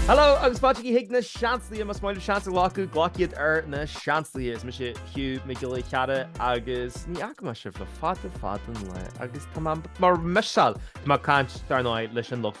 Hello agus fáilte chuig Na Seansálaithe más maith leat seans a ghlacadh glac iad ar Na Seansálaithe. Is mise Hugh Mac Giolla Chearra agus ní fhaca mé sibh le fada fada an lá agus tá mé bhur missáil tá mé ag caint dar ndóigh leis an lucht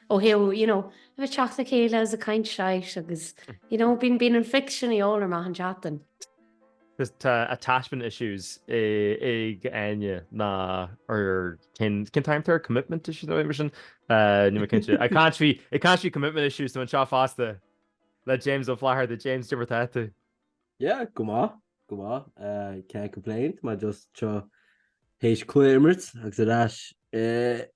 ó thaobh, you know, a bheith ag teacht le chéile is ag caint shite agus, you know, bíonn, bíonn an fix sin de dhíobháil orm achan tseachtain. Is tá attachment issues againne nó or cén, cén t-ainm atá air, commitment issues nó mar sin? Níl mé cinnte. I can't be, it can't be commitment issues tá mé anseo fosta le James Ó Flatharta, James cad é mar atá tú. Yeah, go maith, go maith. Uh, can't complain, mé just théis cluiche a imirt agus ar ais uh,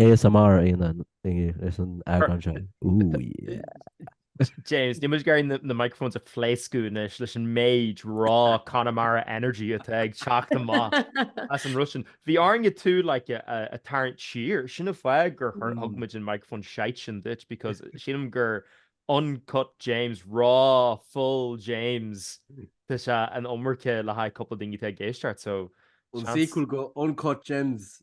ASMR a Fhionán ar san eagrán seo. Ooh yeah! James, níl muid ag iarraidh na microphones a phléascadh anois leis an méid raw Connemara energy atá ag teacht amach as an rud sin. Bhí orainn tú like a tharraingt siar, sin an fáth gur thug muid an microphone shite sin duit because sílim gur uncut James, raw, full James tá sé an iomarca le haghaidh cúpla daoine atá ag éisteacht so seans. An sequel go uncut James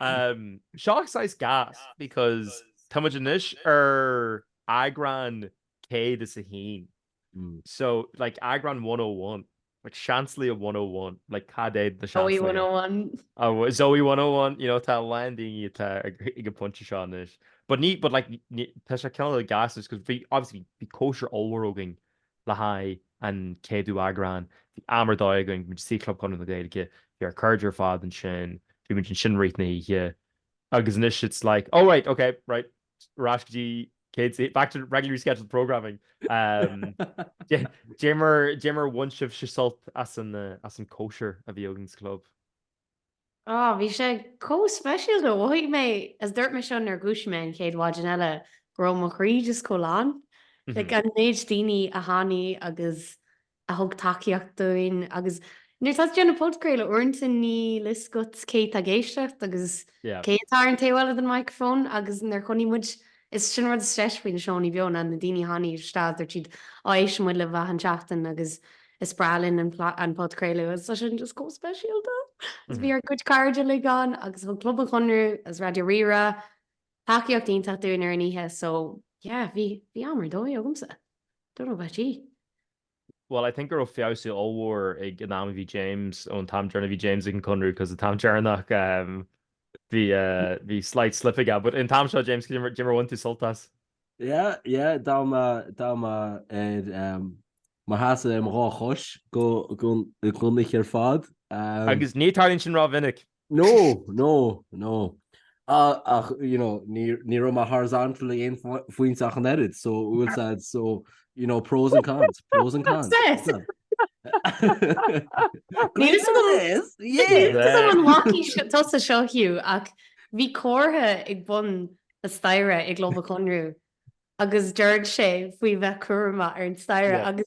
um, seo saghas gas because tá muid anois ar eagrán céad is a haon. Mm. So like eagrán 101 like Seansálaithe 101 like cad é na Zoey 101 oh, Zoey 101 you know tá a lán déanta ag an pointe seo anois but ní but like tá sé cineál gas is because bhí obviously bhí cóisir ollmhór againn le haghaidh an chéadú eagrán, bhí am ar dóigh againn bhí muid sa Club Chonradh na Gaeilge, bhí ár cairde ar fad ansin, bhí muid ansin i rith na hoíche, agus anois it's like oh right, ok, right, ar ais go dtí céad, back to regularly scheduled programming. Dé mar, dé mar bhain sibhse sult as an, as an cóisir a bhí againn sa Chlub. Ó, bhí sé chomh speisialta, mhothaigh mé, is dúirt mé seo nuair a dhúisigh mé an chéad mhaidin eile, go raibh mo chroí just chomh lán, like an méid daoine a tháinig agus a thug tacaíocht dúinn agus nuair atá tú ag déanamh podchraoladh, uaireanta níl a fhios agat cé atá ag éisteacht agus cé atá ar an taobh eile den microphone agus nuair a chonaic muid Is sin an rud is deise faoi na seónna beo, ná na daoine a tháinig isteach, dúirt siad, á, éisteann muid libh achan tseachtain agus is breá linn an podchraoladh agus tá sin just chomh speisialta. Agus bhí ár gcuid cairde uilig ann agus thug Club an Chonradh agus Raidió Rí-Rá tacaíocht iontach dúinn ar an oíche so yeah, bhí am ar dóigh agamsa. Don't know about you. Bhuel, I think go raibh feabhsú ollmhór ag an am a bhí James, ón t-am deireanach a bhí James ag an gConradh, because an t-am deireanach ehm bhí eh bhí slight slip aige, but an t-am seo James cad é mar bhain tú sult as. Yeah, yeah, d'fhan mé, d'fhan mé ar ehm mo sheasamh ar mo dhá chois go go don oíche ar fad ehm. Agus ní tarlaíonn sin rómhinic. No, no, no. Ach ní raibh mé horizontal ag aon phointe ach an oiread, so we'll say, so you know, pros and cons, pros and cons. That's it. Great success! Yeah! An bhfaca tusa seo, Hugh, ach bhí comhartha ag bun na staighre i gClub an Chonradh agus dúirt sé faoi bheith cúramach ar an staighre agus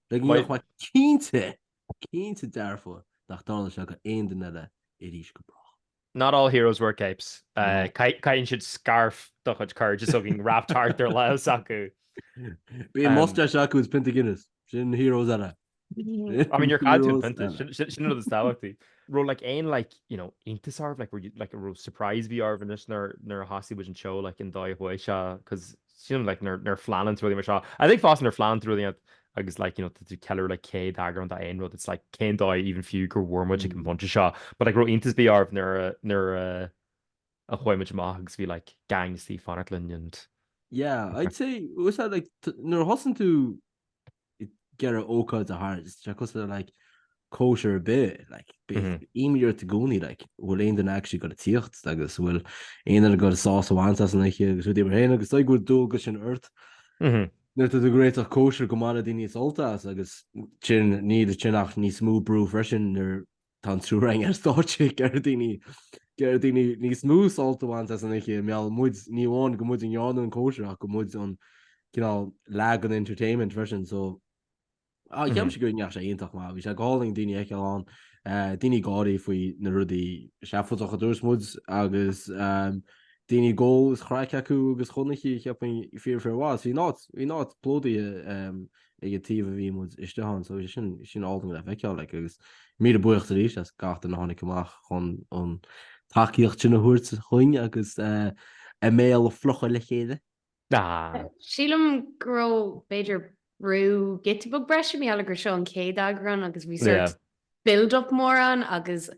Beidh mé cinnte, cinnte dearfa nach dtarlóidh seo do aon duine eile arís go brách. Not all heroes wear capes. Caitheann siad scairf de chuid cairde so againn wrapped thart ar leigheas acu. Bíonn mustache acu is pionta Guinness. Sin na heroes eile. I mean níor chaill tú an pionta, sin an rud is tábhachtaí. raibh like aon like you know iontas oraibh like were you like raibh surprise ar bith oraibh anois nuair a thosaigh muid an seó like an dóigh a chuaigh sé cos sin like nuair nuair phleanann tú rudaí mar seo I think fós nuair phleanann tú rudaí iad agus like you know tá tú ceiliúradh like céad eagrán de aon rud it's like cén dóigh even fiú gur bhfuair muid ag an bpointe seo but like raibh iontas ar bith oraibh nuair a nuair a a chuaigh muid amach agus bhí like gang istigh fanacht linn and yeah I'd say úsáid like nuair a thosaíonn tú ag eagrú ócáid de shórt, tá sé cosúil le like cóisir ar bith, like bíonn Mhm. imní ort i gcónaí like an bhfuil aon duine actually ag dul tíocht agus an bhfuil aon duine ag dul sásamh a bhaint as an oíche agus rudaí mar sin agus d'fhág go bhfuil dualgas sin ort Mhm. nuair atá tú ag réiteach cóisir go mbainfidh daoine sult as agus sin níl sin ach níos mó brú freisin nuair Tá an triúr againn ar stáitse ag iarraidh daoine ag iarraidh daoine níos mó sult a bhaint as an oíche, mar gheall muid ní amháin go muid ag déanamh an chóisir ach gur muid an cineál like an entertainment freisin so cheap mise go ndeachaigh sé iontach maith, bhí sé go hálainn daoine fheiceáil ann, daoine gáirí faoi na rudaí seafóideacha a dúirt muid agus daoine ag ól is craic acu agus chonaic cheap mé fíor fíor mhaith, bhí an áit bhí an áit plódaithe ag an taobh a bhí muid istigh ann so sin sin álainn le feiceáil like agus míle buíochas arís as gach duine a tháinig amach chun an tacaíocht sin a thabhairt chugainn agus a mbéal a fhliuchadh le chéile. Ah. Sílim go raibh b'fhéidir brú giota beag breise mar gheall gur seo an chéad eagrán agus bhí sort build up mór ann agus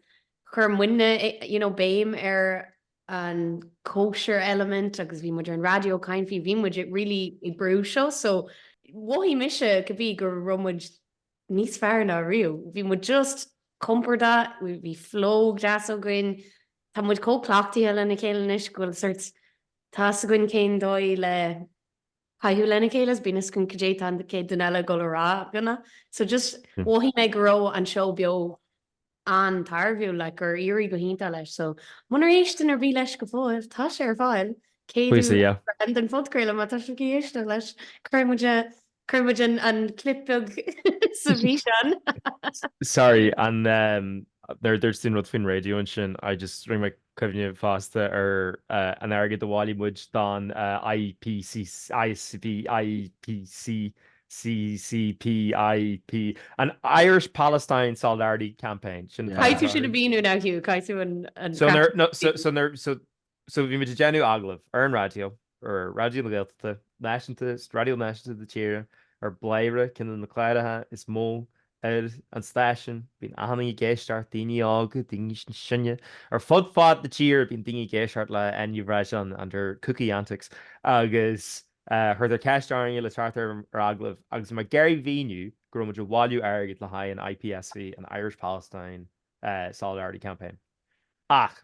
chuir muidne you know béim ar an cóisir element agus bhí muid ar an raidió caint faoi bhí muid really ag brú seo so mhothaigh mise go bhí go raibh muid níos fearr ná riamh bhí muid just compordach bhí flow deas againn tá muid chomh cleachtaithe lena chéile anois go bhfuil sort tá's againn cén dóigh le caitheamh lena chéile is bíonn a fhios againn cad é atá an chéad duine eile ag dul a rá i gcónaí so just mhothaigh mé go raibh an seó beo an-tairbhiúil like gur éirigh go hiontach leis so munar éist duine ar bith leis go fóill tá sé ar fáil cé duine Please yeah. breathnaigh den phodchraoladh má tá sibh ag éisteacht leis cuirfidh muid a cuirfidh muid an an clip beag sa bhfíseán. Sorry, an nuair a dúirt tú an rud faoin raidió ansin, I just, rinne mé cuimhneamh fosta ar an airgead a bhailigh muid don IPC, ISCP, IPC, CCP, IP, an Irish Palestine Solidarity Campaign, sin atá Caithfidh tú sin a mhíniú now Hugh, caithfidh tú an, an So, nuair, no, so, so, nuair, so, so bhí muid ag déanamh agallamh ar an raidió, ar Raidió na Gaeltachta, náisiúnta, raidió náisiúnta na tíre, ar Bladhaire, ceann de na cláracha is mó ar an stáisiún. Bíonn achan duine ag éisteacht, daoine óga, daoine níos sine, ar fud fad na tíre bíonn daoine ag éisteacht le Áine Ní Bhreisleáin and her kooky antics agus cuireadh ceist orainne le teacht ar agallamh agus mé ag iarraidh a mhíniú go raibh muid ag bailiú airgid le haghaidh an IPSC, an Irish Palestine Solidarity Campaign. Ach.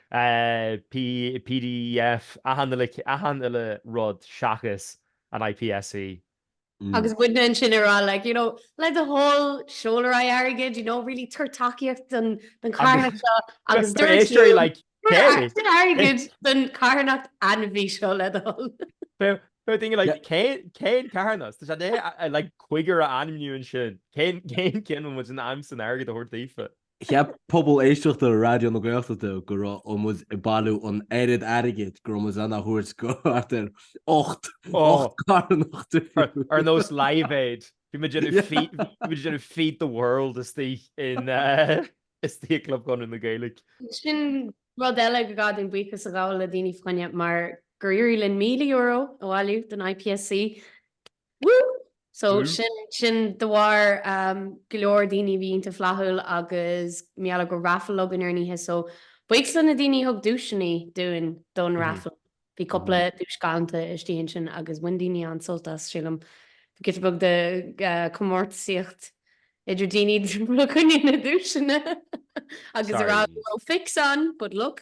pdf achan uile rud seachas an IPSC. Agus muidne ansin ag rá like you know like le do thoil seol ar aghaidh airgead you know really tabhair tacaíocht don carthanacht seo agus tá na héisteoirí like céard? tabhair airgead don carthanacht ainmhí seo le do thoil. Beidh daoine like cén carthanas? Tá sé like cúigear a ainmniú ansin. Cén ceann a bhfuil muid in ainm is an airgead a thabhairt daofa? Cheap pobal éisteachta Raidió na Gaeltachta go raibh muid ag bailiú an oiread airgid go raibh muid in ann é a thabhairt do thart ar ocht carthanacht difriúil. Ar nós Live Aid, bhí muid ag déanamh feed the world istigh i gClub Chonradh na Gaeilge. Sin rud eile gur gá dúinn buíochas a ghabháil le daoine faoi ná mar gur éirigh linn €1,000 a bhailiú don IPSC. Woo! So sin de bharr go leor daoine a bhí iontach flaithiúil agus mar gheall go raibh raffle againn ar an oíche so buíochas leis na daoine a thug duaiseanna dúinn don raffle. Bhí cúpla duais galanta istigh ansin agus bhain daoine an-sult as, sílim. Bhí giota beag de comórtasaíocht idir daoine le coinne na nduaiseanna agus an raibh fix ann, but look.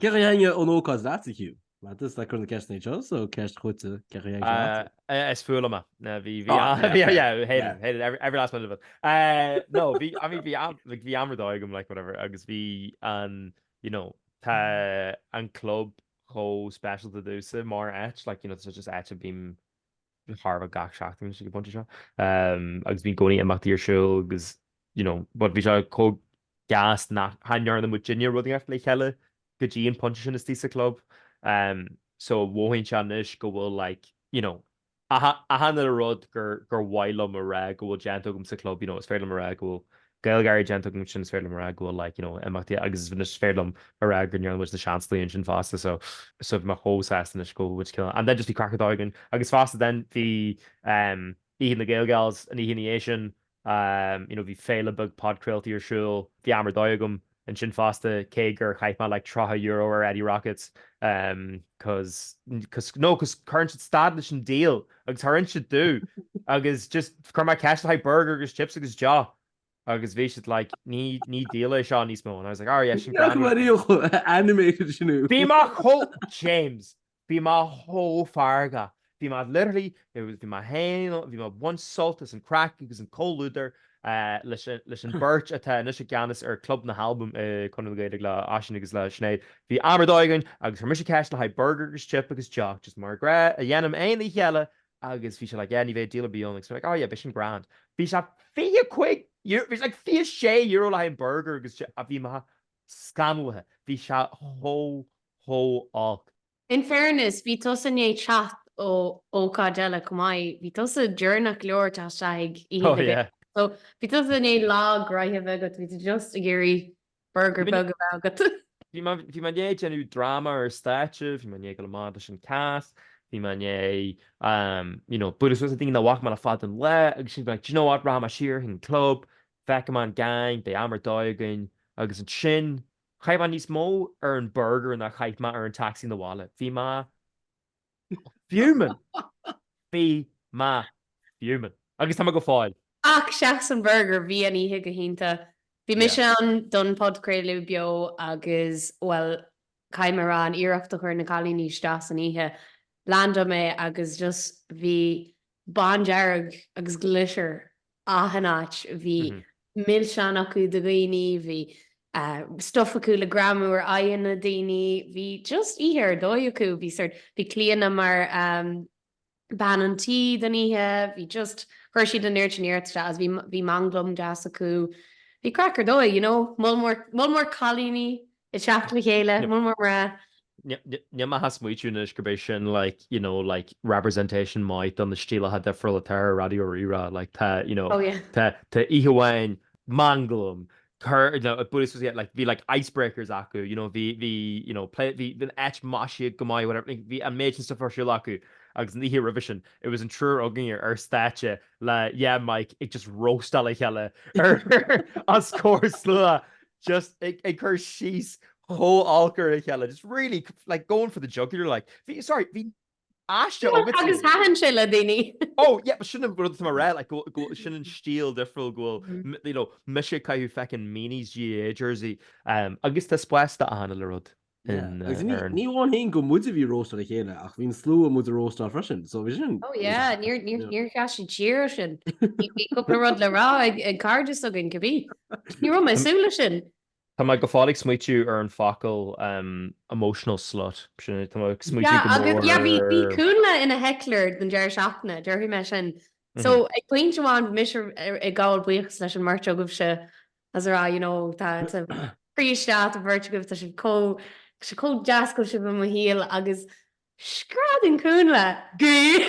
Cé mar a thaitin an ócáid leatsa, Hugh? Mar tusa atá ag cur na ceisteanna iad seo, so ceist chugat, cé mar a thaitin seo leatsa? Is fuath liom é. Bhí, bhí, yeah, yeah, hate it, hate it, every, every last minute of it. No, bhí, I mean, bhí am, like, bhí am ar dóigh agam, like, whatever, agus bhí an, you know, tá an club chomh special domhsa, mar áit, like, you know, tá sé just áit a bím de thairbhe gach seachtain ag an bpointe seo agus bíonn i gcónaí imeachtaí ar siúl agus you know but bhí sé chomh gas nach ndearna muid duine rud inteacht le chéile go dtí an pointe sin istigh sa club so mhothaíonn sé anois go bhfuil like you know achan uile rud gur mhaith liom a rá go bhfuil déanta agam sa club, you know is féidir liom a rá go bhfuil GaelGáirí déanta agam ansin, is féidir liom a rá go bhfuil like, you know, imeachtaí agus is féidir liom a rá go ndearna muid Na Seansálaithe ansin fosta so so bhí mé chomh sásta anois go bhfuil muid cineál and then just bhí craic ar dóigh againn agus fosta then bhí ehm oíche na Gael Gals an oíche ina dhiaidh sin ehm you know bhí féile beag podchraoltaí ar siúl bhí am ar dóigh agam ansin fosta, cé gur chaith mé like €30 ar Eddie Rockets cause nó cause cuireann siad stad leis an deal agus char inis siad domh agus just chuir mé ceist le haghaidh burger agus chips agus deoch agus bhí siad like ní ní deal é seo níos mó and I was like, "Oh, yeah, sin Ceapaim mar ríomh animated sinú. Bhí mé chomh, James. Bhí mé chomh feargach, bhí mé literally, there was, bhí mé féin, bhí mé baint sult as an craic agus an comhluadar leis an, leis an bheirt atá anois i gceannas ar Club na hAlbam i Conradh na Gaeilge le Oisín agus le Sinéad. Bhí am ar dóigh againn agus chuir mise ceist le haghaidh burger agus chip agus deoch just mar gnáth a dhéanaim aon oíche eile agus bhí sé like yeah ní bheidh deal ar bith ann agus bhí mé like oh yeah beidh sin grand. Bhí sé fiche cúig euro, bhí sé like fiche sé euro le haghaidh an burger agus chip a bhí mé scannalaithe, bhí sé chomh chomh holc. In fairness, bhí tusa i ndiaidh teacht ó ócáid eile chomh maith. Bhí tusa deireanach leor teacht isteach. Oh yeah. So, bhí tusa i ndiaidh lá gnaitheach a bheith agat, bhí tú just ag iarraidh burger beag a bheith agat. Bhí mé, bhí mé i ndiaidh déanamh dráma ar stáitse, bhí mé i ndiaidh gabháil amach leis an cast, bhí mé i ndiaidh, you know, bualadh suas le daoine nach bhfaca mé le fada an lá agus sin, d'you know what, rachaidh mé siar chuig an club, feicfidh mé an gang, beidh am ar dóigh againn agus ansin, Chaith mé níos mó ar an burgar ná chaith mé ar an tacsaí na bhaile. Bhí mé fuming! Bhí mé fuming. Agus tá mé go fóill. Ach seachas an burgar, bhí an oíche go hiontach. Bhí mise ann don phodchraoladh beo agus, bhuel, caithfidh mé a rá, an iarracht a chuir na cailíní isteach san oíche, landáil mé agus just bhí bándearg agus glitter achan áit, bhí milseáin acu do dhaoine, bhí stuff acu le greamú ar aghaidheanna daoine, bhí just oíche ar dóigh acu, bhí sort, bhí Clíodhna mar bean an tí don oíche, bhí just, chuir siad an oiread sin iarracht isteach agus bhí, bhí manglam deas acu, bhí craic ar dóigh, you know, moll mór, moll mór cailíní. ag teacht le chéile, muid mar mná. Níl mé ach ag smaoitiú anois gurb é sin like, you know, like representation maith do na stíleacha difriúla atá ar Raidió Rí-Rá, like tá, you know, tá oíche amháin manglam, cor, you know, buailfidh tú, like bhí like icebreakers acu, you know, bhí, bhí, you know, play, bhí an áit maisithe go maith, whatever, bhí an méid sin stuff ar siúl acu agus an oíche roimhe sin, it was an triúr againn ar stáitse le dhá mic ag just róstáil a chéile ar, os comhair slua. just ag ag cur síos chomh holc ar a chéile just really like going for the jugular like. Bhí sorry bhí aiste iontach agatsa agus thaitin sé le daoine. Oh yeah but sin an rud atá mar fhreagra like go go bhfuil sin an stíl difriúil go bhfuil Mhm. m- you know mise ag caitheamh feckin' meanies GAA jersey um, agus tá spás d'achan uile rud. Ní amháin fhéin gur muide a bhí ag róstáil a chéile ach bhí an slua do muid a róstáil freisin, so bhí sin. Oh yeah, níor sheas siad siar as sin. Bhí cúpla rud le rá ag cairde s'againn cibí. Ní raibh mé ag súil leis sin. Tá mé go fóill ag smaoitiú ar an focal emotional slut. Sin é, tá mé ag smaoitiú go mór ar. Yeah, bhí Cúnla ina heckler den deireadh seachtaine, déarfaidh mé sin. So ag pointe amháin bhí mise ag gabháil buíochas leis an mbeirt agaibhse as a rá, you know, tá tú, príomha, a bheirt agaibh, tá sé chomh, tá sé chomh deas go bhfuil sibh i mo shaol, agus screadann Cúnla, Gay!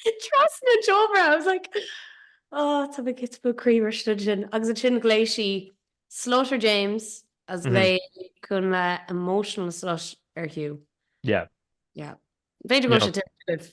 trasna an tseomra! I was like, oh, tá mé cit mo croí mar sin sin. Agus ansin ghlaoigh sí Slaughter James as Mhm. ghlaoigh Cúnla emotional slut ar Hugh. Yeah. Yeah. B'fhéidir go Yeah. sé tuibh.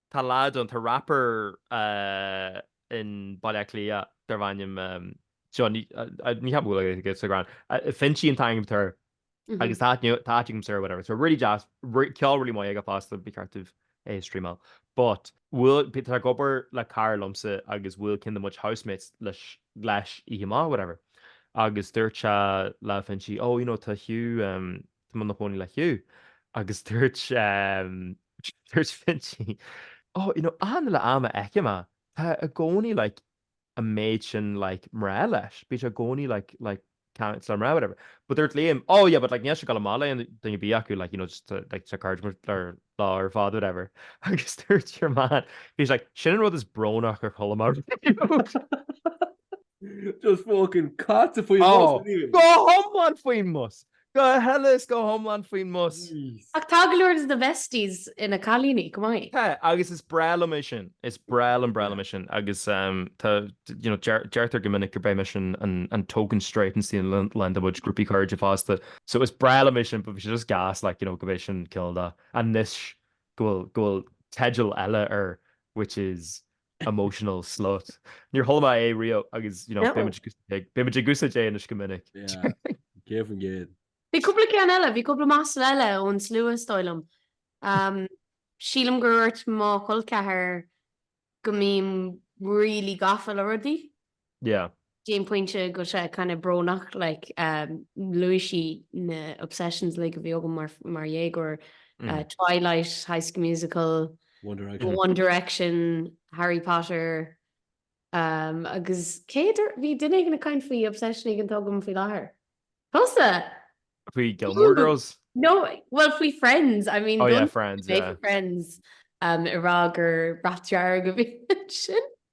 Tá lad ann, tá rapper in Baile Átha Cliath darb ainm seo, ní cheapaim go bhfuil aige sa ghrán, Finchy an t-ainm air agus tá ait inniu, tá ait agam soir, whatever. So really deas, ceol really mhaith aige fosta, ba cheart daoibh é a streamáil. But bhfuil, tá ag obair le cara liomsa agus bhfuil cinnte muid housemates leis oíche mhaith, whatever. Agus dúirt sé le Finchy, oh you know tá Hugh, Tá mé i mo chónaí le Hugh agus dúirt dúirt Finchi, oh, you know, achan uile am a fheicim é, tá i gcónaí like an méid sin like mná leis, bíonn sé i gcónaí like, like ag caint le mná, whatever. But dúirt Liam, oh, yeah, but like níl sé ag gabháil amach le duine ar bith acu, like, you know, just to, like, tá cairde muid ar lá ar fad, whatever. Agus dúirt your man, bhí like, sin an rud is brónaí dár chuala mé ariamh. Just fucking caite faoin mbus. Go hiomlán faoin mbus. Go huile is go hiomlán faoin mbus. Ach tá go leor de na Besties ina gcailíní chomh maith. Tá, agus is breá liom é sin. Is breá liom, breá liom é sin agus tá, you know, deirtear go minic gurb é mise an token straight i ngach ceann de mo chuid grúpaí cairde fosta. So is breá liom é sin but bhí sé just gas like, you know, go mbeidh sin cineál de anois go bhfuil, go bhfuil teideal eile air which is. emotional slut. Níor chuala mé é riamh agus beimid ag úsáid é anois go minic. Céad faoin gcéad. Bhí cúpla ceann eile, bhí cúpla masla eile ón slua is dóigh liom. Sílim gur dúirt mo chol ceathair go mbím really gafa le rudaí. Yeah. go dtí an pointe go bhfuil sé kind of brónach like um luaigh sí na obsessions like a bhí agam mar mar dhéagóir uh Twilight, High School Musical, One Direction, One Direction, Harry Potter um agus cé dúirt bhí duine éigin ag caint faoi obsession éigin atá agam faoi láthair. Tusa! Faoi Gilmore Girls? No well faoi Friends I mean Oh yeah Friends yeah. Friends um ag rá gur bhrat dearg a bhí sin.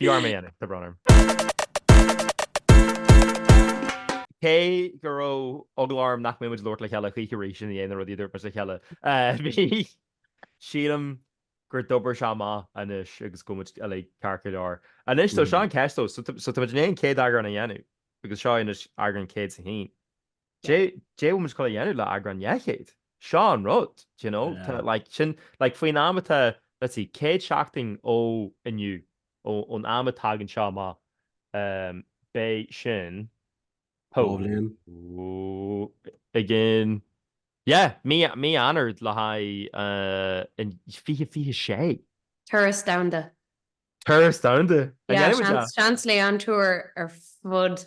Bhí orm é a dhéanamh. Tá brón orm. Cé go raibh eagla orm nach mbeidh muid ag labhairt le chéile choíche arís i ndiaidh na rudaí a dúirt muid le chéile, bhí, sílim, gur d'obair sé amach anois agus go bhfuil muid uilig ceart go leor. Anois, so seo an cheist though, so tá muid in ann céad eagrán a dhéanamh? Agus seo anois eagrán 101. Dé tá muid ag gabháil a dhéanamh le eagrán dhá chéad. Seo an rud, do you know? Tá, like, sin, like, faoin am atá, let's see, céad seachtain ó inniu, ón am a tagann seo amach, beidh sin, dhá bhliain again, yeah, mí Eanáir le haghaidh an fiche, fiche sé. Turas Domhanda. Turas Domhanda! Yeah, seans, Seansálaithe on tour ar fud.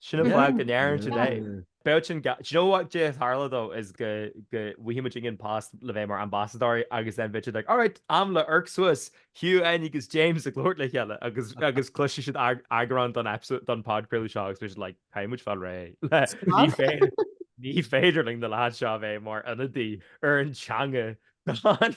Sin an fáth go ndeireann siad é. Bheadh sin ga. Do you know what caidé a tharlódh is go go bhfaighidh muidinne post le bheith mar ambasadóirí agus then bheadh siad like alright am le amharc suas, Hugh N agus James ag labhairt le chéile agus agus cloisfidh siad eagrán don episode don podchraoladh seo agus bheadh siad like caithfidh muid fáil réidh le ní féidir ní féidir linn na lads seo a bheith mar ionadaí ar an teanga gan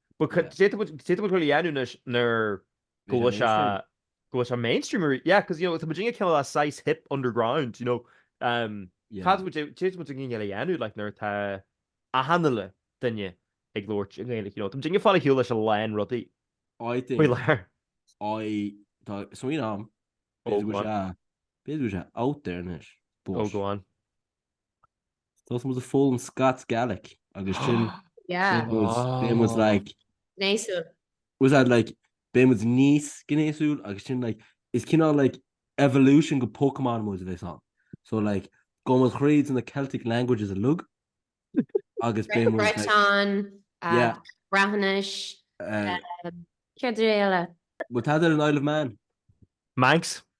But cad, caidé tá muid, caidé tá muid ag gabháil a dhéanamh anois nuair go bhfuil sé, go bhfuil sé mainstream arís? Yeah, cos you know, tá muidinne cineál saghas hip underground, you know, um, cad tá muid, caidé tá muid ag gabháil a dhéanamh, like, nuair atá achan uile duine ag labhairt i nGaeilge, you know, tá muidinne ag fáil ar shiúl leis a lán rudaí faoi láthair. I, tá, smaoineamh agam, b'fhéidir go bhfuil sé, b'fhéidir go bhfuil sé out there anois, but. Oh, go on. Tosóidh muid ag foghlaim Scots Gaelic agus sin Yeah. beidh muid beidh muid Oh. like Gnéasúil. was that like beidh muid níos gnéasúil agus sin like is cineál like evolution go Pokémon muid a bheas ann. So like gabhfaidh muid thríd na Celtic languages uilig agus beidh muid like Breton, uh, yeah Breathnais, uh, céard eile? well tá ar an Isle of Man. Manx,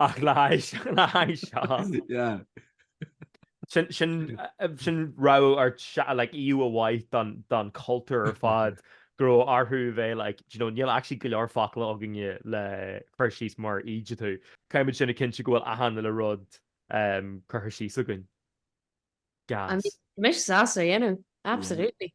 Ach le haghaidh seo. Sin, raibh ar like fiú amháin, don chultúr ar fad go raibh orthu a bheith like, do you know, níl actually go leor focal againne le cur síos mar a dúirt tú. Caithfimid sin a chinntiú go bhfuil achan uile rud curtha síos againn. Gas. Tá mise sásta é a dhéanamh. Absolutely.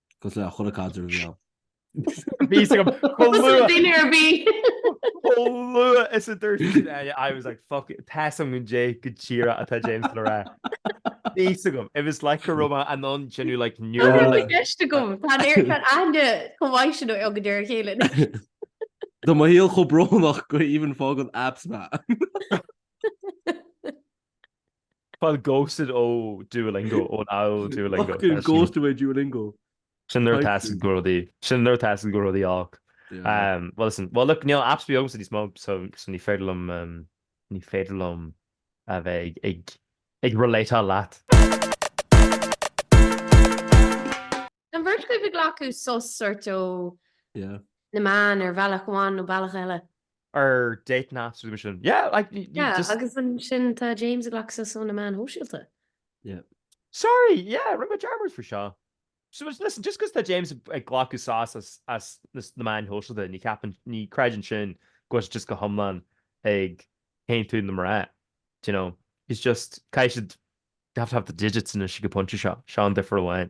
Cos le chéile cad é a bhí ann. Bhí, go dinnéar, bhí. Lua is a dúirt I was like fuck it tá a fhios agam cad é go díreach atá James le rá. Bhí a fhios agam it was like go raibh mé anonn sin like neural. Tá i gceist agam tá aithne chomh mhaith sin agaibh ar a chéile. Tá mo shaol chomh brónach go even faigheann apps mé. Fáil ghosted ó Duolingo, ó Now Duolingo. Fucking ghosted ó Duolingo. Sin nuair a teastaigh go raibh rudaí, sin nuair atá a fhios agat go bhfuil rudaí olc. Bhuel listen, bhuel look, níl apps ar bith agamsa níos mó so so ní féidir liom, ní féidir liom a bheith ag ag relateáil leat. An bheirt agaibh ag glacadh sos sort ó na meáin ar bhealach amháin nó bealach eile? Or dating apps muise sin. Yeah, like you yeah, just... agus ansin tá James ag glacadh sos ó na meáin shóisialta. Yeah. Sorry, yeah, rinne mé dearmad faoi seo. So listen, just cos tá James ag glacadh sos as, as na meáin shóisialta, ní cheapann, ní chiallaíonn sin go bhfuil sé just go hiomlán ag teacht tríothu níos mó, do you know? He's just, caithfidh siad, you have to have the digits anois ag an pointe seo, seo an difear amháin.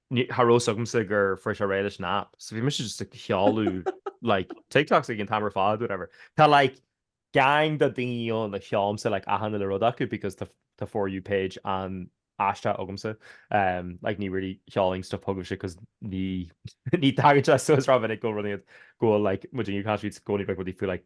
ní raibh a fhios agamsa gur fuair sé réidh leis an app, so bhí mise just ag seoladh like TikToks ag an t-am ar fad whatever. Tá like gang de dhaoine ann a sheolaimse like achan uile rud acu because tá tá for you page an-aisteach agamsa um like ní really seolaim stuff chugaibhse cos ní ní thagann sé suas rómhinic go mbíonn siad go bhfuil like muid inniu caithfimid gcónaí beith rudaí faoi like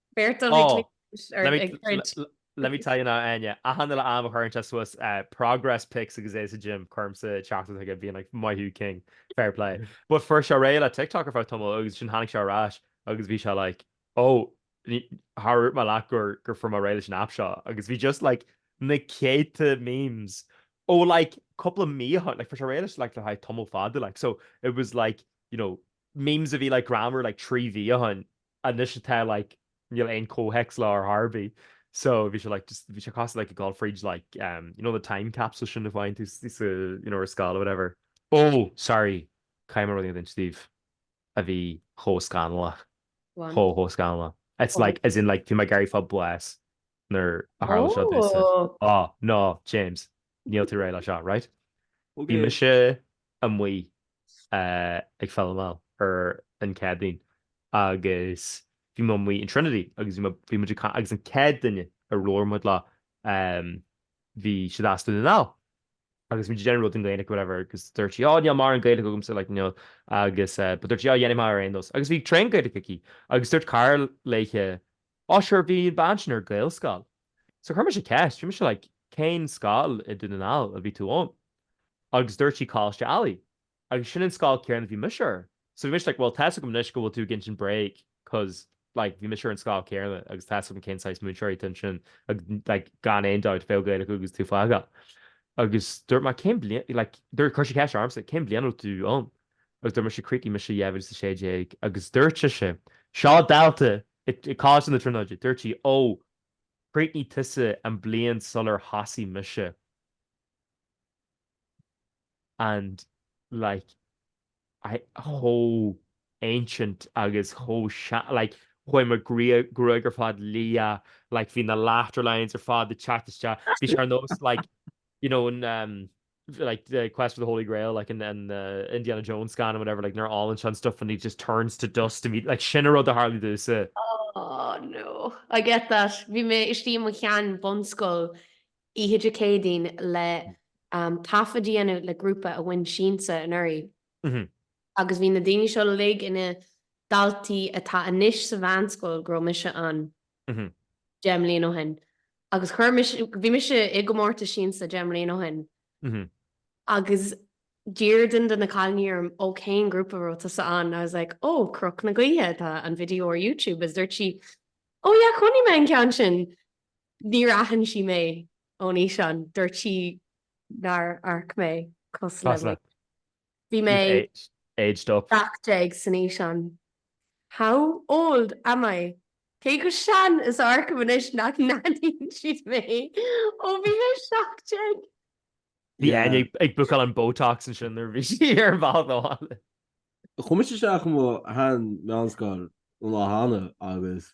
Beirt dul ag cliceáilt ar ag troid. Let me tell you now Áine, achan uile am a chuireann sé suas progress pics agus é sa gym, cuirimse teachtaireacht chuige being like maith thú king, fair play. But fuair sé réidh le TikTok ar feadh tamaill agus ansin tháinig sé ar ais agus bhí sé like oh níor dhúirt mé leat gur gur fuair mé réidh leis an app seo agus bhí just like na céadta memes ó like cúpla mí ó shin like fuair sé réidh leis like le haghaidh tamaill fada like so it was like you know memes a bhí like greannmhar like trí mhí ó shin anois atá like níl aon comhthéacs leo ar chor ar bith so bhí sé like just bhí sé cosúil le like ag dul fríd like um you know the time capsule sin a dhéanann tusa you know ar scoil or whatever ó sorry caithfidh mé rud éigin a insint daoibh a bhí chomh scannalach Go on. chomh chomh scannalach it's Oh. like as in like bhí mé ag éirí verbless nuair a tharla seo domsa Oh, no James Níl tú réidh le seo, right? Bhí mise amuigh ag filmeáil ar an Céadaoin agus bhí muid amuigh in Trinity agus bhí muid, bhí muid ag, agus an céad duine a labhair muid leo bhí siad as Dún na nGall agus bhí muid ag déanamh rud i nGaeilge whatever agus dúirt sí oh níl mórán Gaeilge agamsa like you know agus but dúirt sí oh dhéanfaidh mé ar aon nós agus bhí tréan Gaeilge aici agus dúirt cara léithe oh sure bhí an bean sin ar Gaelscoil So chuir mise ceist, bhí mise like, cén scoil i Dún na nGall a bhí tú ann? Agus dúirt sí Coláiste Ailigh. Agus sin an scoil céanna a bhí mise ar. So bhí mise like, bhuel tá's agam anois go bhfuil tú ag insint bréag cos like, bhí mise ar an scoil céanna agus tá's agam cén saghas múinteoirí atá ansin agus like, gan aon dabht bheadh Gaeilge acu agus tú fágtha. Agus dúirt mé cén bliain like, dúirt chuir sí ceist ormsa cén bliain a raibh tú ann? Agus dúirt mise chríochnaigh mise 2016 agus dúirt sise seo dalta i i Coláiste na Tríonóide, dúirt sí ó Chríochnaigh tusa an bliain sular thosaigh mise and like chomh ancient agus chomh sean, like chuaigh mo gruaig ar fad liath, like bhí na laughter lines ar fad ag teacht isteach, bhí sé ar nós like, you know, in. like the quest for the holy grail like in an Indiana Jones scannán or whatever like nuair a ólann sé an stuff and he just turns to dust immediately like sin an rud a tharlaigh domhsa. Aww no I get that, bhí mé istigh i mo shean bhunscoil oíche Dé Céadaoin le taifead a dhéanamh le grúpa a bhain Siansa anuraidh agus bhí na daoine seo uilig ina daltaí atá anois sa mheánscoil go raibh mise ann. deich mbliain ó shin agus chuir, bhí mise i gcomórtas Siansa deich mbliain ó shin agus d'iarr duine de na cailíní orm ó cén grúpa a raibh tusa ann, I was like oh Cnoc na Gaoithe atá an video ar YouTube agus dúirt sí oh yeah chonaic mé an ceann sin. Níor aithin sí mé ón fhíseán, dúirt sí nár amharc mé cosúil le mar. Bhí mé. You've aged up. 17 san fhíseán. How old am I? Cé chomh sean is a amharcaim anois nach n-aithníonn siad mé ó bhí mé 17. Bhí Áine ag bookáil an botox ansin nuair a bhí sí ar an bhealach abhaile. Chuaigh mise isteach i mo shean-mheánscoil an lá cheana agus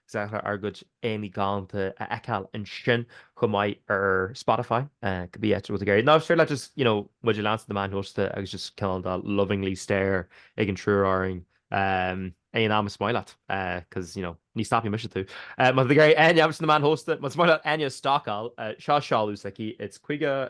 Is deacair ár gcuid aghaidheanna galánta a fheiceáil ansin chomh maith ar Spotify. Cibé áit atá tú ag iarraidh. Nó is féidir leat just, you know, muid a leanstan ar na meáin shóisialta agus just cineál de lovingly stare ag an triúr orainn aon am is maith leat, cos, you know, ní stopfaidh mise tú. Má tá tú ag iarraidh Áine a thabhairt do na meáin shóisialta, más maith leat Áine a stalkáil, seo seoladh s'aici, it's 50.